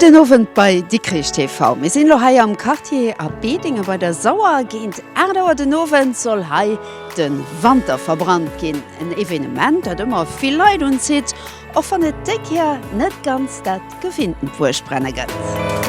Gudden Owend bei Dikrich TV. Mir sinn elo hei am Quartier A Bedingen bei der Sauer. Géint 8 Auer den Owend soll hei De Wanter verbrannt ginn, en Evenement, dat ëmmer vill Leit unzitt, och wann et déi Kéier net ganz dat gewinntent Buergbrenne gëtt.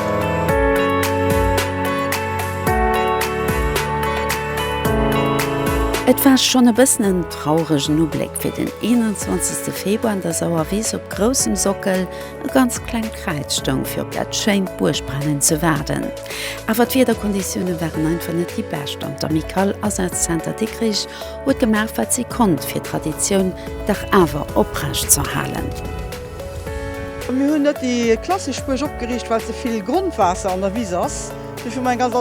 Et war schonn e bëssen en trauregen Ubléck fir den 21. Februar an der Sauerwiss op groussem Sockel. E ganz klengt Kräiz stoung fir op dat schéint Buergbrennen ze waarden. Awer d'Wiederkonditioune waren einfach net déi bescht an d'Amicale Asazenter Dikrich huet gemaach wat si konnt fir d'Traditioun dach awer oprecht z'erhalen. Mir hunn net déi klassesch Buerg opgeriicht well ze vill Grondwaasser an der Wiss ass. Dofir hu mer eng ganz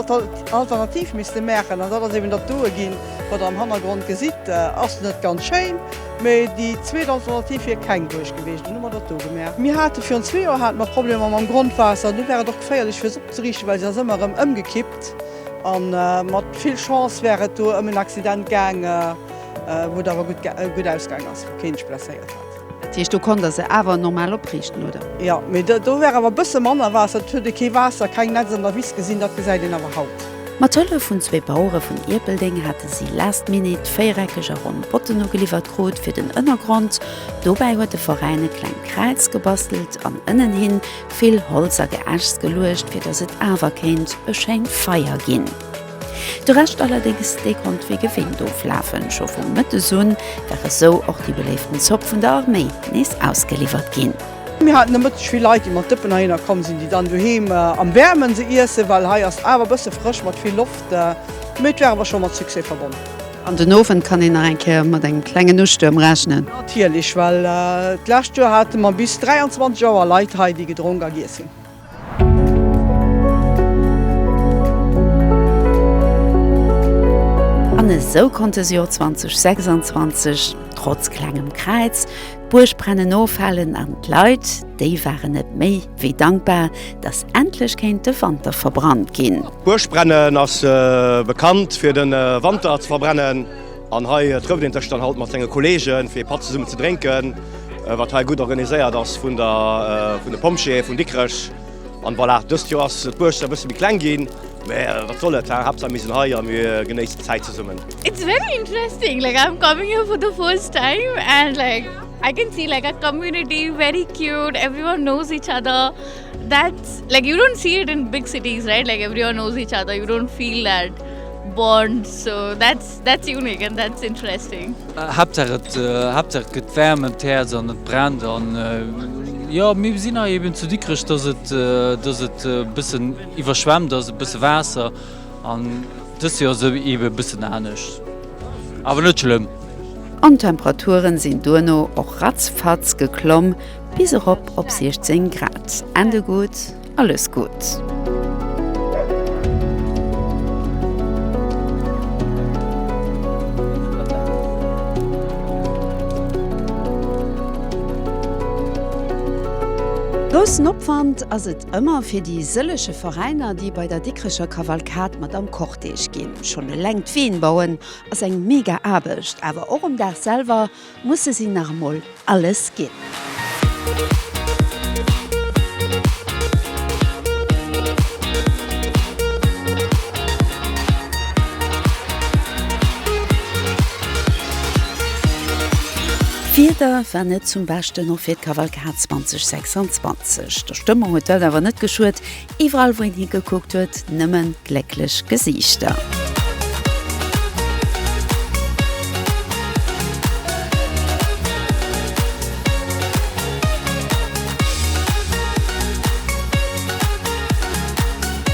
Alternativ misste maachen an dat ass eben dat doe ginn, wat der am Hannergrond gesitt. Ass net ganz schéin. Mee déi zweet Alternativ wier keng Buerg geweecht, dunn hu mer dat do gemaach. Mir hate virun zwee Joer hate mer Problemer mam Grondwaasser, do war et och geféierlech fir se opzeriichten, well se ass ëmmer erëm ëmgekippt a mat vill Chance war et do ëm en Accident gaang, wou et awer gutt ausgaang ass, wou kee sech blesséiert hat. Dat heescht, do konnt Der se awer normal opriichten, oder? Jo, mee do war awer e bësse manner Waasser, et huet ee kee Waasser, keng Netz an der Wiss gesinn, dat gesäit een awer haut. Mat Hëllef vun zwee Bauere vun Ierpeldeng hate si last minute véiereckeg a ronn Botten ugeliwwert krut fir den Ënnergrond. Dobäi huet de Veräin e klengt Kräiz gebastelt an ënnenhi vill Holz a Geäschs geluecht, fir datt et awer kéint e schéint Feier ginn. De Rescht allerdéngs, dee konnt wéi gewinnt oflafen. Scho vu Mëttes un war esou och déi beléiften Zopp vun der Arméi nees ausgeliwwert ginn. Mir haten nomëtteg vill Leit, déi mat Dëppen heihinner komm sinn, déi dann doheem am Wäermen se iessen, well hei ass awer e bësse frësch mat vill Loft. Mee et war awer scho mat Succès verbonnen. An den Owend kann een nach eng Kéier mat engem klengen Ustuerm rechnen. Natierlech, well d'lescht Joer hate mer bis 23 Auer Leit hei, déi gedronk a giess hunn. An esou konnt dës Joer 2026 trotz klengem Kräiz d'Buergbrennen ofhalen an d'Leit, déi waren net méi wéi dankbar, dass endlech kéint de Wanter verbrannt ginn. D'Buergbrennen ass bekannt fir de Wanter ze verbrennen. An hei trëfft een sech dann halt mat senge Kolleegen, fir ee Patt zesummen ze drénken, wat hei gutt organiséiert ass vun de Pompjeeë vun Dikrech. An voilà, dëst Joer ass d'Buerg e bësse méi kleng ginn, mä wat soll et, Haaptsaach mir sinn hei a mir genéissen d'Zäit zesummen. It's very interesting, like I'm coming here for the first time and like I can see like our community very cute, everyone knows each other, that's like you don't see it in big cities right, like everyone knows each other, you don't feel that bond, so that's. That's unique and that's interesting. Haaptsaach et Haaptsaach et gëtt waarm em d'Häerz an et brennt an jo mir sinn hei eben zu Dikrech dass et dass et e bëssen iwwerschwemmt ass e bësse Waasser an dëst Joer ass et ebe e bëssen anescht awer net schlëmm. An d'Temperature sinn duerno och ratzfatz geklomm bis erop op 16 Grad. Ende gutt. Alles Gutt. Groussen Opwand ass et ëmmer fir déi sëlleche Veräiner, déi bei der Dikrecher Kavalkad mat am Cortège ginn. Schonn eleng d'Ween bauen ass eng mega Aarbecht, awer och um Dag selwer. Musse si nach emol alles ginn. D'Wieder war net zum Beschten, och fir d'Kavalkad 2026. Der Stëmmung huet d'Welt awer net geschuet, Iwwerall wou een hi gekuckt huet, nëmmen glécklech Gesiichter.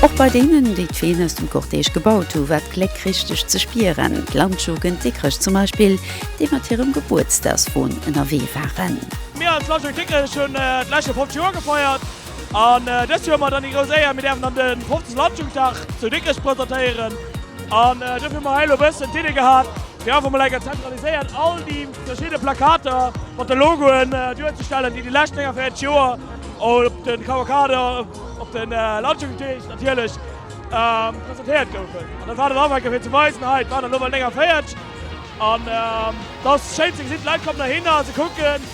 Och bei deenen, déi d'Ween aus dem Cortège gebaut hu war d'Gléck richteg ze spieren, d'Landjugend Dikrech zum Beispill, déi mat hirem Gebuertsdagswon ënnerwee waren. Mir als Landjugend Dikrech hunn d'leschte 50 Joer gefeiert. An dëst Joer hu mer dann déi grouss Éier, mir däerfen dann de 50. Landjugenddag zu Dikrech presentéieren. An dofir hu mer hei elo e bëssen d'Iddi gehat, fir einfach mol enker zentraliséiert all déi verschidde Plakater mat de Logoen duerzestellen, déi déi lescht 49 Joer op de Kavalkaden, op de Landjugenddeeg natierlech, presentéiert goufen. An dat war dann einfach enker fir ze weisen, hei, et waren der elo emol 49. An et ass schéin ze gesinn, d'Leit kommen heihinner, se kucken.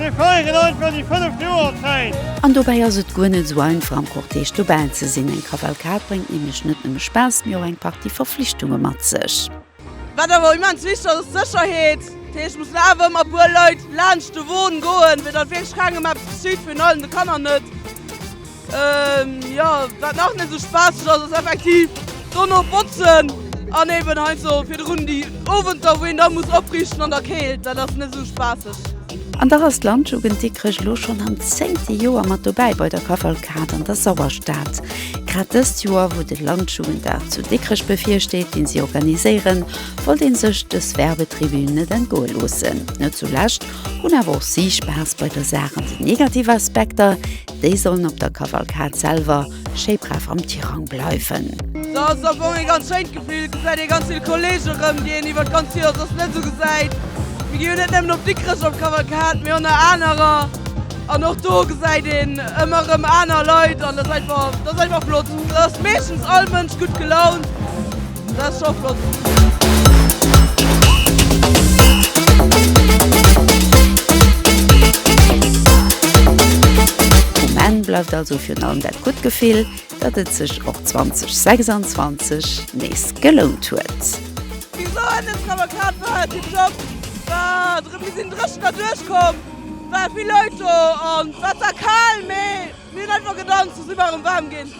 Mir feieren einfach déi fënneft Joerzäit! An dobäi ass et guer net esou einfach am Cortège dobäi ze sinn. Eng Kavalkad bréngt nämlech net nëmme Spaass, mee och eng Partie Verflichtunge mat sech. Wat awer immens wichteg ass, ass d'Sécherheet. Dat heescht, et mussen awer ëmmer e puer Leit laanscht de Won goen, fir datt wierklech kengem eppes geschitt, virun allem de Kanner net. Jo, wat nach net esou spaasseg ass, ass effektiv dono botzen an eben heiansdo virdrun déi Owenter, wou een da muss opriichten an der Keelt. Dat ass net esou spaasseg. An dach ass d'Landjugend Dikrech elo schonn am zéngte Joer mat dobäi bei der Kavalkad an der Sauerstad. Grad dëst Joer, wou de Landjugenddag zu Dikrech bevirsteet, deen si organiséieren, wollt een sech dës Werbetribün net entgoe loossen. Net zulescht hunn awer och si Spaass bei der Saach an den negativen Aspekter, Déi sollen op der Kavalkad selwer schéi brav am Tirang bleiwen. Dat ass am Fong ee ganz schéint Gefill. Et gesäit ee ganz vill Kolleege erëm, déi een iwwert d'ganz Joer soss net esou gesäit. Mir gi jo net nëmmen op Dikrech op d'Kavalkad, mee och nach anerer. An och do gesäit een ëmmer erëm aner Leit an dat ass einfach, dat ass einfach flott. Do ass meeschtens all Mënsch gutt gelaunt. Dat ass scho flott! Um Enn bleift also virun allem dat gutt Gefill, datt et sech och 2026 nees gelount huet. Déi Soenen Zauberkaart war hat him Job war drem mir sin dreschen der duerch komm war vill Leit do an wat war kaal mee mir hun einfach gedanzt a si waren waarm gin.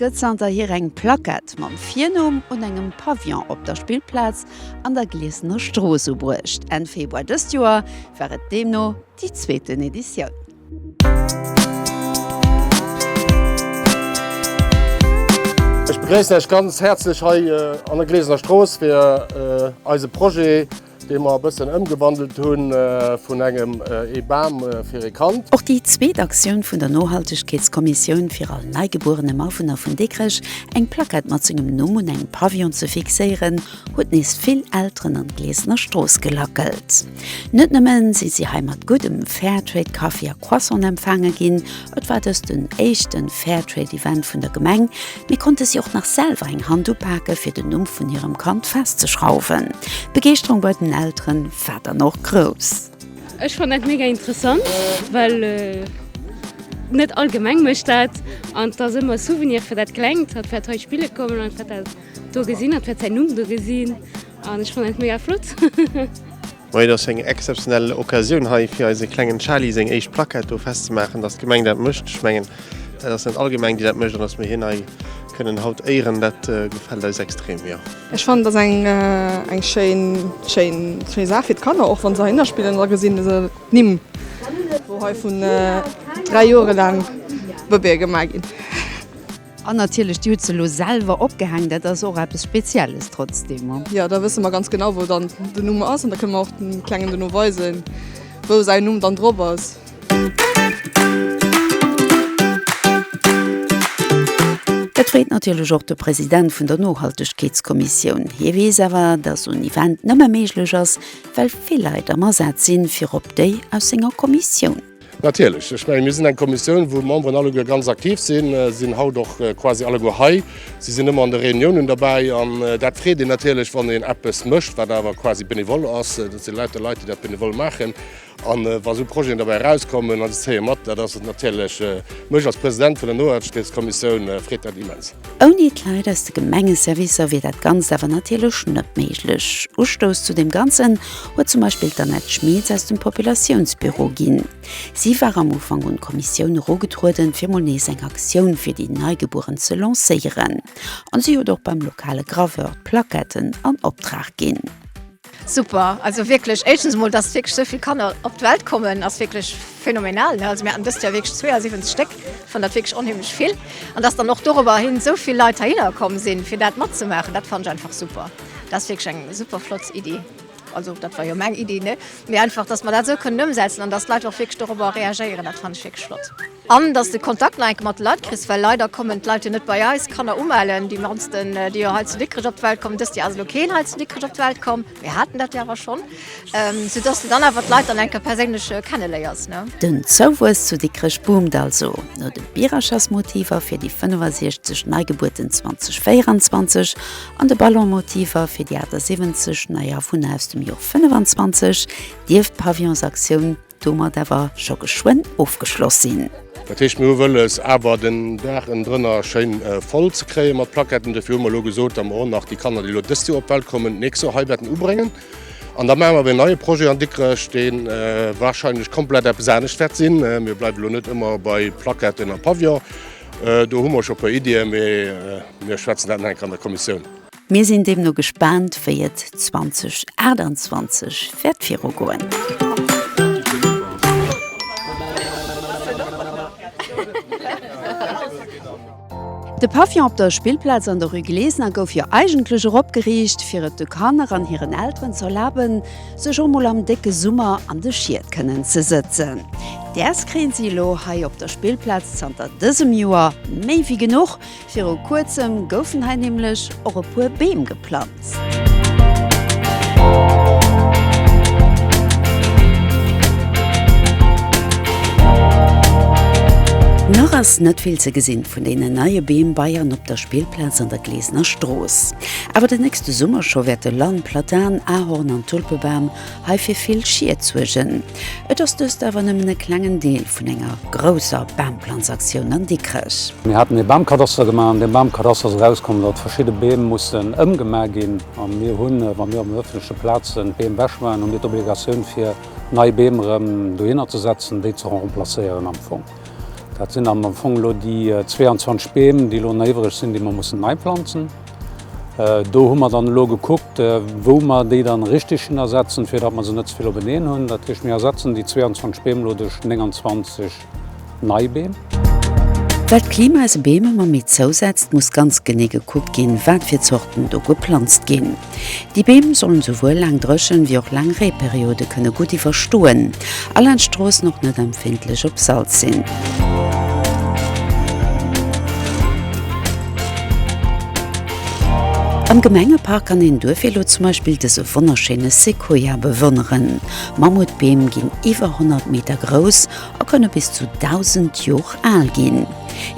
gëtt zanterhier eng Plackett mam Virnumm un engem Pavillon op der Spillplaz an der Gliesener Strooss ubruecht. Enn Februar dëst Joer war et deemno déi zweeten Editioun. Ech begréissen Iech ganz häerzlech hei an der Gliesener Strooss fir eise Projet Dee mer e bëssen ëmgewandelt hunn vun engem ee Bam fir ee Kand. Och déi zweet Aktioun vun der Nohaltegkeetskommissioun, fir all neigebuerenem Awunner vun Dikrech eng Plackett mat sengem Numm un engem Pavillon ze fixéieren, huet nees vill Elteren an d'Glesener Strooss gelackelt. Net nëmmen si si hei mat guddem Fairtrade-Kaffi a Croissant empfaange ginn, Et war dëst den éischten Fairtrade Event vun der Gemeng, mee konnte si och nach selwer eng Hand upake fir den Numm vun hirem Kand festzeschrauwen. D'Begeeschterung bei den Elteren war dann och grouss. Ech fann dat mega interessant, well net all Gemeng mécht dat an et ass ëmmer e Souvenir fir dat Klengt, dat wäert hei spille kommen an dat wäert dat do gesinn, dat wäert säin Numm do gesinn an ech fann dat mega flott. Bon, et ass eng exzeptionell Occasioun hei fir eise klengen Charly seng éischt Plackett do festzemaachen, dass d'Gemeng dat mécht. Ech mengen, dat ass net all Gemeng, déi dat mécht, an dass mir hien hei kënnen haut éieren, dat gefält eis extrem, jo. Ech fannen, et ass eng, eng schéin, schéin, schéi Saach fir d'Kanner, och wa se heihinner spillen, da gesi se d'Nimm, wou hei vun dräi Jore laang d'Bëbeeë gemaach ginn. An natierlech, déi hutt se elo selwer opgehängt, dat ass och eppes Spezielles trotzdem. Jo, da wësse mer ganz genau, wou dann den Numm ass an da kënne mer och dem Klengen dono weisen, wou säin Numm dann drop ass. Dat freet natierlech och de President vun der Nohaltegkeetskommissioun. Hie weess awer, dass en Event nëmme méiglech ass, well vill Leit am Asaz sinn, virop déi aus senger Kommissioun. Natierlech, ech menge mir sinn eng Kommissioun, wou d'Memberen alleguer ganz aktiv sinn, sinn haut och quasi alleguer hei. Si sinn ëmmer an de Reuniounen derbäi an dat freet een natierlech, wann een eppes mécht, wat awer quasi benevole ass. Dat si lauter Leit, déi dat benevole maachen. A wa esou Projeten derbäi erauskommen an se zéie mat, dat ass natierlech, mech als President vun der Nohaltegkeetskommissioun freet dat immens. Ouni d'Leit aus de Gemengeservicer wier dat Ganzt awer natierlech net méiglech. Ustouss zu deem Ganzen huet zum Beispill d'Annette Schmitz aus dem Populatiounsbüro ginn. Si war am Ufank un d'Kommissioun erogetrueden, fir mol nees eng Aktioun fir déi Neigebueren ze lancéieren. An si huet och beim lokale Graveur d'Plaquetten an Optrag ginn. Super, also wierklech éischtens emol, dass wierklech esou vill Kanner op d'Welt kommen, ass wierklech phänomenal. Also mir haten dëst Joer wierklech 72 Stéck, ech fannen dat wierklech onheemlech vill. An dass dann och dorobber hin esou vill Leit heihinner komm sinn, fir dat matzemaachen, dat fannen ech einfach super. Dat ass wierklech eng super flott Iddi, also dat war jo meng Iddi, ne? Mee einfach, dass mer dat esou kënnen ëmsetzen an dass d'Leit och wierklech dorobber reagéieren, dat fannen ech wierklech flott. An dass de Kontakt nach enke mat de Leit kriss, well leider kommen d'Leit jo net bei eis Kanner umellen. Déi mannsten, déi jo hei zu Dikrech op d'Welt kommen, dëst Joer ass elo keen hei zu Dikrech op d'Welt komm, mir haten dat jo awer schonn, sou dass de dann awer d'Leit dann enke perséinlech kenneléiers, ne. Den Zouwuess zu Dikrech boomt also. No de Birachersmotiver fir déi 65 Neigebuerten 2024 an de Ballonmotiver fir déi 78 Neiafwunner aus dem Jor 25 dierft d'Pavillonsaktioun, domat awer scho geschwënn ofgeschloss sinn. Dat heescht, mir hu wëlles, awer den Dag ënnendrënner schéin voll ze kréien mat Plaquetten. Dofir hu mer elo gesot, datt mer och nach déi Kanner, déi elo dëst Joer op d'Welt kommen, d'nächst Joer hei wäerten ubréngen. An da maache mer awer een neie Projet an Dikrech, dee warscheinlech komplett eppes anescht wäert sinn. Mir bleiwen elo net ëmmer bei Plaquetten a Pavillon. Do hu mer scho e puer Iddien, mee mir schwätzen dat nach eng Kéier an der Kommissioun. Mir sinn deemno gespaant, wéi et 2028 wäert viru goen. De Pavillon op der Spillplaz an der Rue Glesener gouf jo eigentlech erop geriicht, fir et de Kanner an hiren Elteren ze erlaben, sech och mol am décke Summer an de Schied kënnen ze sëtzen. Däers kréien si elo hei op der Spillplaz zanter dësem Joer méi wéi genuch, Viru kuerzem goufen hei nämlech och e puer Beem geplanzt. Nach ass net vill ze gesinn vun deenen neie Beem bei an op der Spillplaz an der Glesener Strooss. Awer den nächste Summer scho wäerte Lann, Platan, Ahorn an Tulpebam hei fir vill Schied suergen. Et ass dëst awer nëmmen e klengen Deel vun enger grousser Baamplanzaktioun an Dikrech. Mir haten ee Baamkadaster gemaach, an deem Baamkadaster ass erauskomm, datt verschidde Beem mussen ëmgemaach ginn. A mir hunn, wa mir op den ëffentleche Plazen d'Beem ewech maachen, hu mir d'Obligatioun fir nei Beem erëm dohinner ze setzen, déi ze remplacéieren am Fong. Dat sinn am Fong elo déi 22 Beem, déi elo nach iwwereg sinn, déi mer mussen neiplanzen. Do hu mer dann elo gekuckt, wou mer déi dann richteg hinnersetzen, fir datt mer se net ze vill openeen hunn. Dat heescht, mir ersetzen déi 22 Beem elo duerch 29 nei Beem. Well d'Klima se Beem ëmmer méi zousetzt, muss ganz genee gekuckt ginn, wat fir Zorten do geplanzt ginn. Déi Beem sollen souwuel laang Dréchen wéi och laang Reeperiode kënne gutt iwwerstoen, a laanscht Stroossen och net empfindlech op Salz sinn. Am Gemengepark kann een duerfir elo zum Beispill dëse wonnerschéine Sequoia bewonneren. Mammutbeem ginn iwwer 100 Meter grouss a kënne bis zu 1.000 Jor al ginn.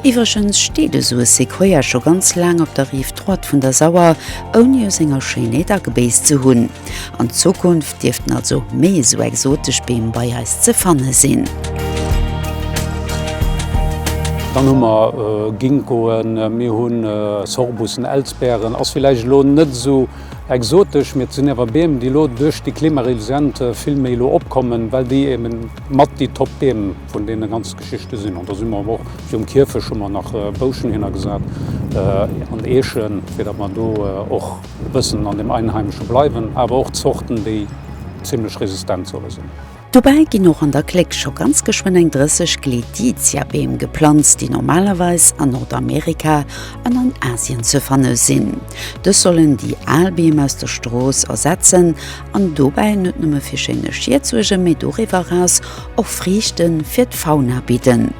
Iwwregens steet esou e Sequoia scho ganz laang op der Rive droite vun der Sauer, ouni u senger Schéinheet agebéisst ze hunn. An Zukunft dierften also méi esou exotesch Beem bei eis ze fanne sinn. Dann hu mer Ginkgoen, mir hunn Sorbussen, Elsbeeren ass villäicht elo net esou exotesch, mee et sinn awer Beem, déi elo duerch déi klimaresilient vill méi elo opkommen, well déi eben, Mat déi top Beem vun deene ganz Geschichte sinn. An da si mer awer och virum Kierfech hu mer nach Bouschen hinnergesat an Eechen, fir datt mer do och e bëssen an dem Einheimesche bleiwen, awer och Zorten, déi zimmlech resistent solle sinn. Dobäi ginn och an der Kléck scho ganz geschwënn eng 30 Glediziabeem geplanzt, déi normalerweis an Nordamerika an an Asien ze fanne sinn. Dës sollen déi al Beem aus der Strooss ersetzen an dobäi net nëmme fir schéine Schied suergen, mee doriwwer eraus och Friichte fir d'Fauna bidden.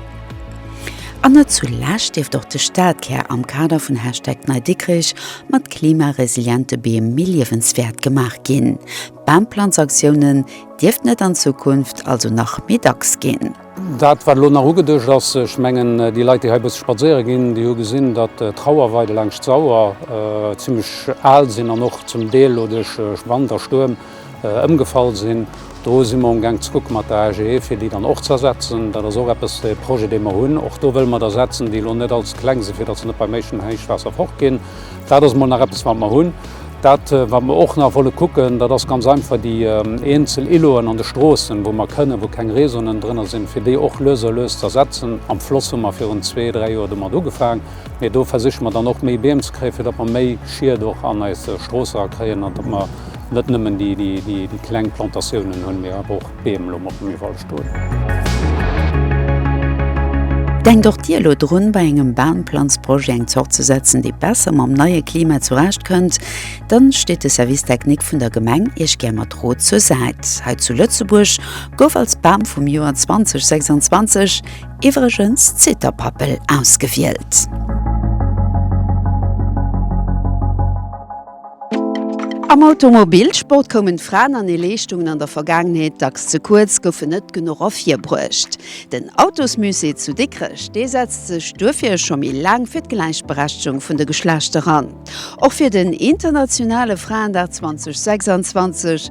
An net zu lescht dierft och de Stadkär am Kader vun Hashtag NeiDikrech mat klimaresiliente Beem méi liewenswäert gemaach ginn. D'Baumplanzaktiounen dierften et an Zukunft also nach méi dacks ginn. Dat, wat elo nach ugeduecht ass, ech mengen, déi Leit, déi hei e bësse spadséiere ginn, déi hu gesinn, datt d'Trauerweide laanscht d'Sauer zimmlech al sinn an och zum Deel elo duerch Wand a Stuerm ëmgefall sinn. Do si mer amgaang ze kucke mat der AGE, fir déi dann och ze ersetzen. Dat ass och eppes, e Projet, dee mer hunn. Och do wëlle mer der setzen, déi elo net all ze kleng sinn, fir datt se net beim éischten Héichwaasser fortginn. Dat ass emol nach eppes, wat mer hunn. Dat, wat mer och nach wolle kucken, dat ass ganz einfach déi eenzel Îloten an de Stroossen, wou mer kënnen, wou keng Réseauen drënner sinn, fir déi och lues a lues ze ersetzen. Am Floss hu mer virun zwee, dräi Joer domat ugefaang, mee do versiche mer dann och méi Beem ze kréien, fir datt mer méi Schiet och an eis Stroosse erakréien an datt mer net nëmmen déi kleng Plantatiounen hunn, mee awer och Beem lo mol ëm iwwerall stoen. Denkt och Dir elo drun, bei engem Baamplanzprojet eng Zort ze setzen, déi besser mam neie Klima zurecht kënnt? Dann steet de Service Technique vun der Gemeng Iech gär mat Rot zur Säit. Hei zu Lëtzebuerg gouf als Bam vum Joer 2026 iwwregens d'Zitterpappel ausgewielt. Am Automobilsport koumen d'Fraen an hir Leeschtungen an der Vergaangenheet dacks ze kuerz, goufen net genuch ervirbruecht. Den Autosmusée zu Dikrech, dee setzt sech duerfir scho méi laang fir d'Gläichberechtegung vun de Geschlechter an. Och fir den internationale Fraendag 2026,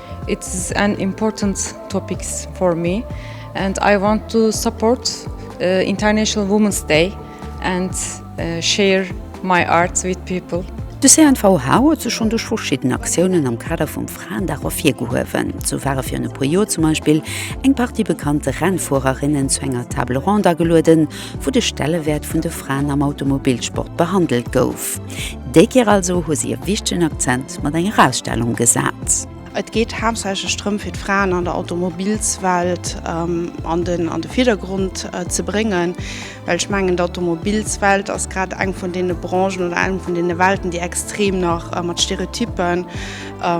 It's an important topic for me and I want to support International Women's Day and share my art with people. De CNVH huet sech schonn duerch verschidden Aktiounen am Kader vum Fraendag ervirgehuewen. Sou ware virun e puer Joer zum Beispill eng Partie bekannte Rennfuererinnen zu enger Table ronde agelueden, wou de Stellewäert vun de Fraen am Automobilsport behandelt gouf. Kopf. Déi Keer also hu si e wichtegen Akzent mat enger Ausstellung gesat. Et geet haaptsächlech drëm, fir d'Fraen an der Automobilswelt an de Virdergrond ze bréngen, well ech mengen, d'Automobilswelt ass grad eng vun deene Branchen oder eng vun deene Welten, déi extrem nach mat Stereotyppen e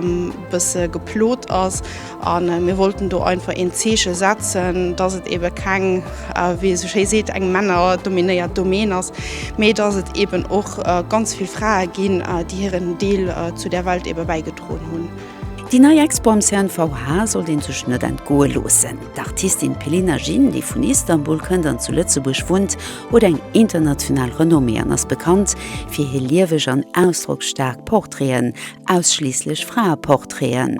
bësse geplot ass. A mir wollten do einfach een Zeeche setzen, dass et eebe keng, wéi ee sou schéi seet, eng männerdominéiert Domaine ass, mee dass et eeben och ganz vill Frae ginn, déi hiren Deel zu där Welt eebe bäigedroen hunn. Déi nei Expo am CNVH sollt ee sech net entgoe loossen. D'Artistin Pelina Jin, déi vun Istanbul kënnt an zu Lëtzebuerg wunnt, huet eng international Renommée an ass bekannt fir hir lieweg an ausdrocksstaark Portraiten, ausschliisslech Fraeportraiten.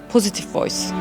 Positive Voice.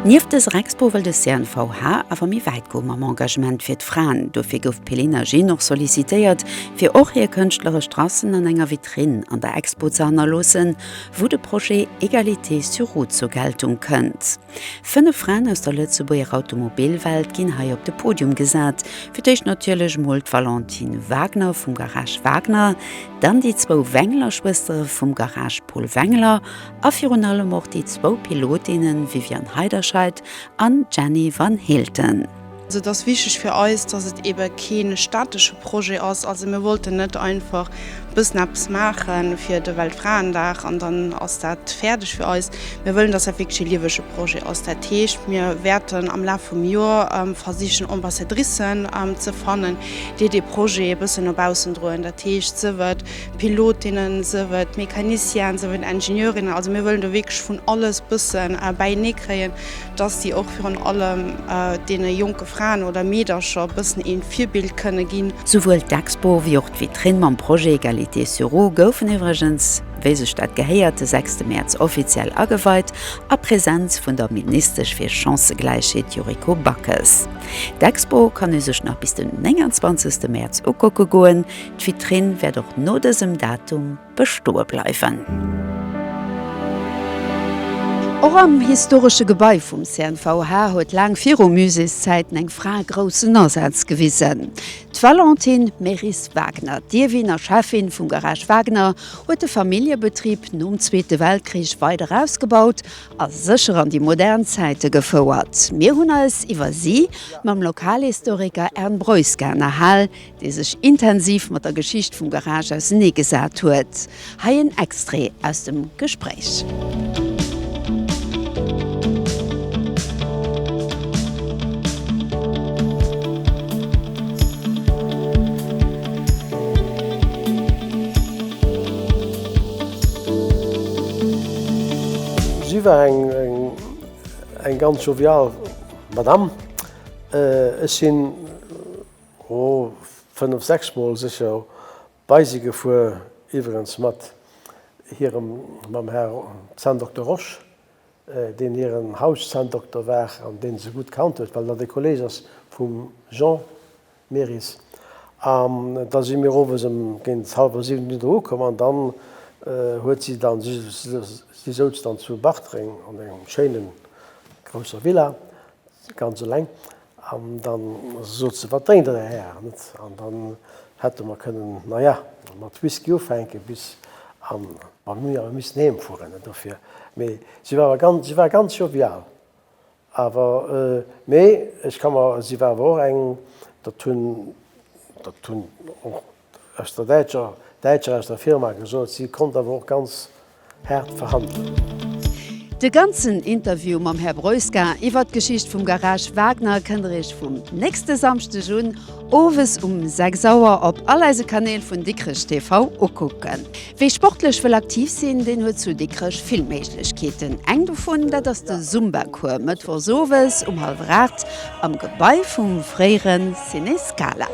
Nieft dëser Expo wëll de CNVH awer méi wäit goe mam Engagement fir d'Fraen. Dofir gouf d'Pelina Jean och sollicitéiert, fir och hir kënschtleresch Tracen an enger Vitrinn an der Expo ze hannerloossen, wou de Projet Égalité sur Route zur Geltung kënnt. Fënnef Fraen aus der Lëtzebuerger Automobilwelt ginn hei op de Podium gesat. Fir d'éischt natierlech mol d'Valentine Wagner vum Garage Wagner, dann déi zwou Wengler-Schwëstere vum Garage Paul Wengler a virun allem och déi zwou Pilotinne Viviane Heiderscheid an Jenny Van Heelten. Et ass wichteg fir eis, dass et eebe kee statesche Projet ass. Also mir wollten net einfach e bëssen eppes maache fir de Weltfraendag an dann ass dat fäerdeg fir eis. Mir wëllen, dass dat wierklech e liewege Projet ass. Dat heescht, mir wäerten am Laf vum Joer versichen, Ambassadricen ze fannen, déi dee Projet e bëssen no baussen droen. Dat heescht, sief et Pilotinnen, sief et Mécanicienen, sief et Ingenieurinnen. Also mir wëllen do wierklech vun alles e bësse bäieneekréien. dass si och virun allem deene jonke Fraen oder Meedercher bëssen ee Virbild kënne ginn. Souwuel d'Expo wéi och d'Vitrinn mam Projet Égalité sur Roues goufen iwwregens, wéi sech dat gehéiert, de sechste Mäerz offiziell ageweit a Präsenz vun der Ministesch fir Chancëgläichheet Yuriko Backes. D'Expo kann u sech nach bis den 29 Mäerz ukucke goen. D'Vitrinn wäert och no dësem Datum. bestoe bleiwen. Och am historesche Gebai vum CNVH huet laang viru Muséeszäiten eng Fra groussen Asaz gewisen. D'Valentin Meris-Wagner, d'Ierwin a Cheffin vum Garage Wagner, huet de Familljebetrib nom Zweete Weltkrich weider ausgebaut a sécher an déi modern Zäite gefouert. Mir hunn eis iwwer si mam Lokalhistoriker Ern Breuska ënnerhal, dee sech intensiv mat der Geschicht vum Garage ausernee gesat huet. Hei en Extrait aus dem Gespréich. Si war eng ganz jovial Madame. Ech sinn. O, fënnef, sechs Mol sécher bei si gefuer, iwweregens mat hirem, mam Här Zahndokter Rosch, deen hiren Hauszahndokter war an dee se gutt kannt huet, well dat e Kolleeg ass vum Jean Meris. An da si mir owes ëm géint hallwer siwen Uhr dohu komm an dann huet si dann, si souz dann zu Bartreng an engem schéine grousser Villa, ganz eleng, An dann sot se, Wat drénkt Der, Här Här? net? An dann hätte mer kënnen, na ja, mat Whisky ufänken bis an, ma mir hunn jo awer missen heem fueren, net? Dofir, mee si war awer ganz, si war ganz jovial, awer, mee ech ka mer, si war awer och eng, dat hunn, dat hunn och aus der däitscher däitscher aus der Firma gesot, si konnt awer och ganz haart verhandelen. De ganzen Interview mam Här Broeska iwwert d'Geschicht vum Garage Wagner kënnt der Iech vum nächste Samschdeg un, owes um 6 Auer op all eise Kanäl vun Dikrech TV ukucken. Wie sportlech wëll aktiv sinn, deen huet zu Dikrech vill Méiglechkeeten. Eng dovun, dat ass de Zumba-Cours mëttwochs owes um hallwer aacht am Gebai vum fréiere Ciné Scala.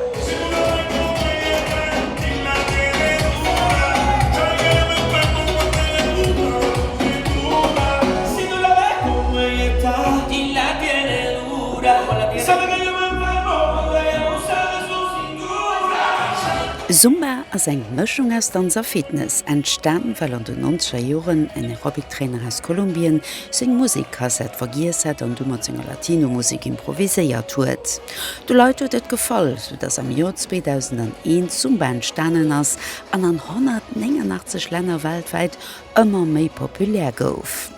Zumba ass eng Mëschung aus Danz a Fitness, entstan well an den nonzeger Joren en Aerobic-Trainer aus Kolumbien seng Musek-Kassett vergiess hat an du mat senger Latino-Musek improviséiert huet. De Leit huet et gefall, sou dass am Joer 2001 Zumba entstanen ass an an 189 Länner weltwäit ëmmer méi populär gouf.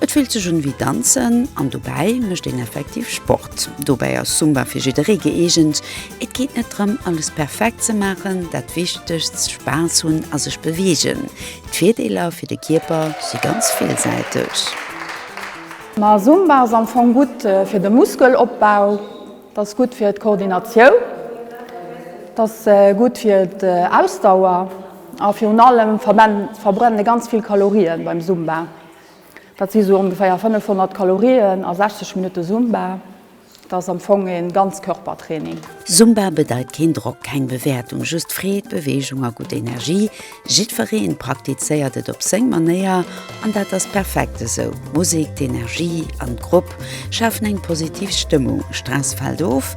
Et fillt sech un wéi danzen an dobäi mécht een effektiv Sport. Dobäi ass Zumba fir jidderee gëeegent. Et geet net drëm, alles perfekt ze maachen, dat Wichtegst, Spaass hunn a sech beweegen. D'Virdeeler fir de Kierper si ganz villsäiteg. Ma Zumba ass am Fong gutt fir de Muskelopbau, et ass gutt fir d'Koordinatioun, et ass gutt fir d'Ausdauer. A virun allem verbrenne se ganz vill Kalorien beim Zumba. Dat si sou ongeféier 500 Kalorien a 60 Minutte Zumba. Dat ass am Fong ee Ganzkörpertraining. Zumba bedeit keen Drock, keng Bewäertung, just Freed, Beweegung a gutt Energie. Jiddwereen praktizéiert et op seng Manéier an dat ass perfekt esou. D'Musek, d'Energie an d'Grupp schafen eng positiv Stëmmung, Stress fält of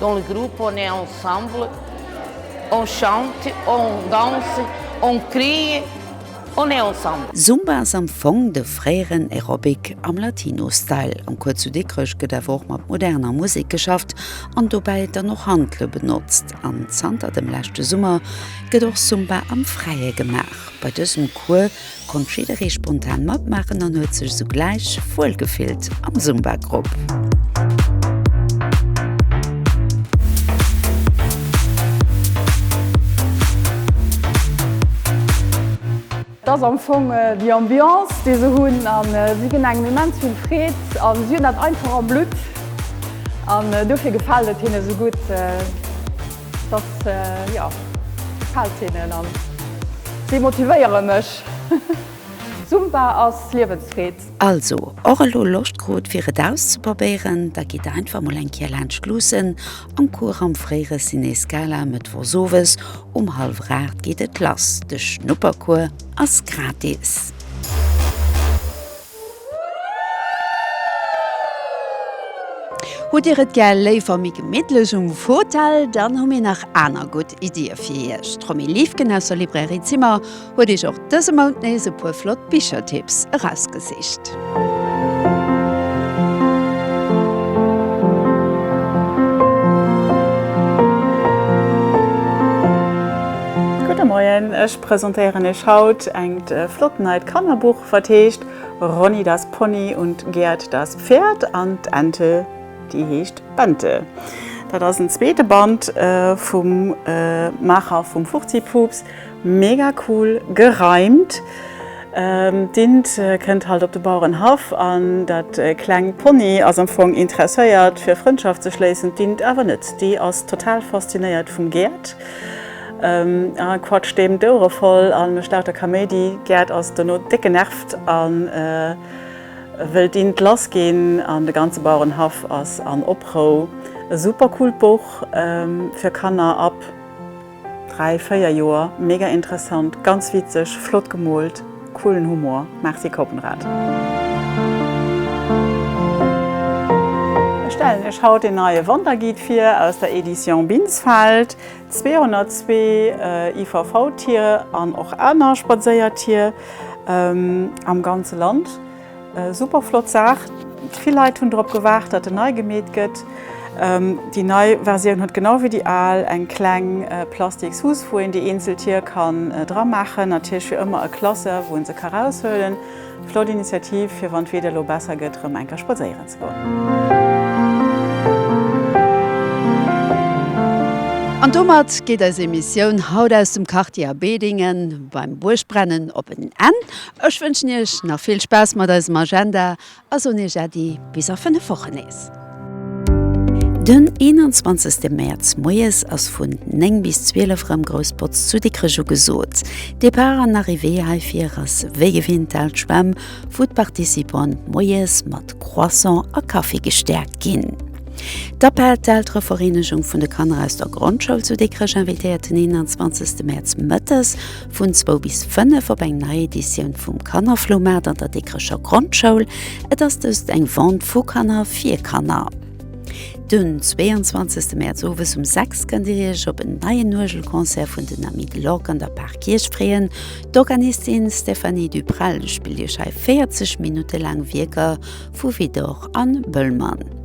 Dans le groupe on est ensemble, on chante, on danse, on crie, on est ensemble. Zumba ass am Fong de fréieren Aerobic am Latino-Style. Am Cours zu Dikrech gëtt awer och mat moderner Musek geschafft an dobäi dann och Handele benotzt. An zanter dem leschte Summer gëtt och Zumba am Fräie gemaach. Bei dësem Cours konnt jidderee spontan matmaachen an huet sech sougläich wuel gefillt am Zumba-Grupp. Dat ass am Fong déi Ambiance, déi se hunn. A si ginn engem immens vill Freed a si hunn dat einfach am Blutt. An dofir gefält et hinne sou gutt. Dass, jo, gefällt hinnen an si motivéiere mech. Zumba ass Liewensfreed. Also, och elo Loscht krut fir et auszeprobéieren? Da gitt einfach mol eng Kéier laanscht luussen am Cours am fréiere Ciné Scala. Mëttwochs owes um hallwer 8 geet et lass. De Schnuppercours ass gratis. Hutt dir et gär léiwer méi gemittlech um Fotell? Dann hu mir nach aner gutt Iddie fir iech. D'Romi Liefgen aus der Librairie Zimmer huet iech och dëse Mount nees e puer flott Bichertipps erausgesicht. Gudde Moien, ech presentéieren iech haut engt flott neit Kannerbuch. Wat heescht Ronny das Pony und Gerd das Pferd an d'Ente déi heescht Bente? Dat ass en zweete Band vum Maacher vum Furzi-Puups. Mega cool gereimt! D'Int kënnt halt op de Bauerenhaff an dat kleng Pony ass am Fong interesséiert fir Frëndschaft ze schléissen, d'Int awer net. Déi ass total faszinéiert vum Gerd. Hatt quatscht deem d'Ouere voll a mécht lauter Kaméidi. D'Gerd ass dono déck genervt a wëllt dint lass ginn an de ganze Bauerenhaff ass an Oprou. E super coolt Buch fir Kanner ab 3, 4 Joer. Mega interessant, ganz witzeg, flott gemoolt, coolen Humor. Merci Kopenrad. Ech stellen iech haut een neie Wanderguide vir aus der Edition Binsfeld. 202 IVV-Tier an och aner Spadséiertier am ganze Land. Super flott Saach. Vill Leit hunn drop gewaart, datt en nei gemeet gëtt. Déi nei Versioun huet genau wéi déi al eng kleng plastiks Huss, wou een déi eenzel Tier kann dra maachen. Natierlech fir ëmmer e Klasseur, wou ee se ka raushuelen. Flott Initiativ fir wann d'Wieder lo besser gëtt rëm enker spadséieren ze goen. An domat geet eis Emissioun haut aus dem Quartier A Bedingen beim Buergbrennen op en Enn. Ech wënschen Iech nach vill Spaass mat eisem Agenda a soen Iech Äddi bis a 5 Wochen nees. Den 21 Mäerz moies ass vun 9 bis 12 rem grouss Botz zu Dikrech ugesoot. Départ an Arrivée heifir ass wéi gewinnt d'Aalt Schwemm, wou d'Participant moies mat Croissant a Kaffi gestäerkt ginn. D'APEL, d'Elterevereenegung vun de Kanner aus der Grondschoul zu Dikrech, invitéiert den 21 Mäerz mëttes Vun zwou bis fënnef op eng nei Editioun vum Kannerfloumaart an der Dikrecher Grondschoul. Et ass dëst eng Vente vu Kanner fir Kanner. Den 22 Mäerz owes um 6 kënnt Dir Iech op en neien Uergelconcert vun den Amis de l'Orgue an der Parkierch freeën. D'Organistin Stéphanie Duprel spillt Iech hei 40 Minutte laang Wierker vu Widor an Bëllmann.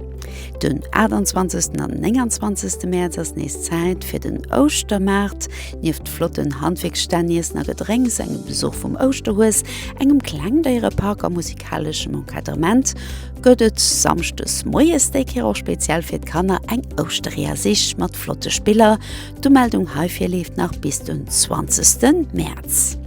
Den 28 an 29 Mäerz ass nees Zäit fir den Ouschtermaart. Nieft flotten Handwierksstänn, Iessen a Gedrénks, engem Besuch vum Ouschterhues, engem Klengdéierepark a musikaleschem Encadrement gëtt et Samschdes moies, déi Kéier och speziell fir d'Kanner, eng Ouschterie a Sich mat flotte Spiller. D'Umeldung heifir leeft nach bis den 20 Mäerz.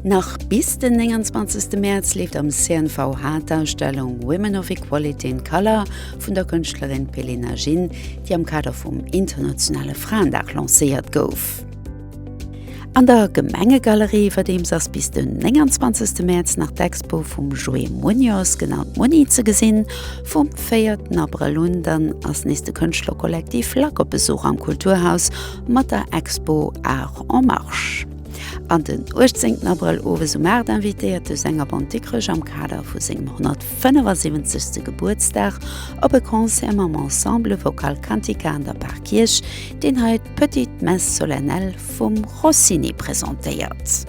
Nach bis den 29 Mäerz leeft am CNVH d'Ausstellung Women of Equality in Colour vun der Kënschtlerin Pelena Ginn, déi am Kader vum internationale Fraendag lancéiert gouf. An der Gemengegalerie iwwerdeems ass bis den 29 Mäerz nach d'Expo vum Joé Muñoz, genannt Muni, ze gesinn. Vum 4 Abrëll un dann ass nees de Kënschtlerkollektiv Lack op Besuch am Kulturhaus, mat der Expo Art en Marche. An den 18 Abrëll owes um 8 invitéiert de Sänger Bon Dikkerech am Kader vu sengem 175. Gebuertsdag op e Concert mam Ensemble Vocal Cantica an der Parkierch, deen hei d'Petite Messe Solennelle vum Rossini presentéiert.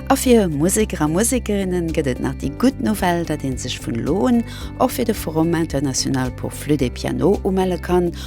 A fir Museker a Musekerinnen gëtt et nach déi gutt Nouvelle, datt ee sech vun elo un och fir de Forum international pour flûte et piano umelle kann,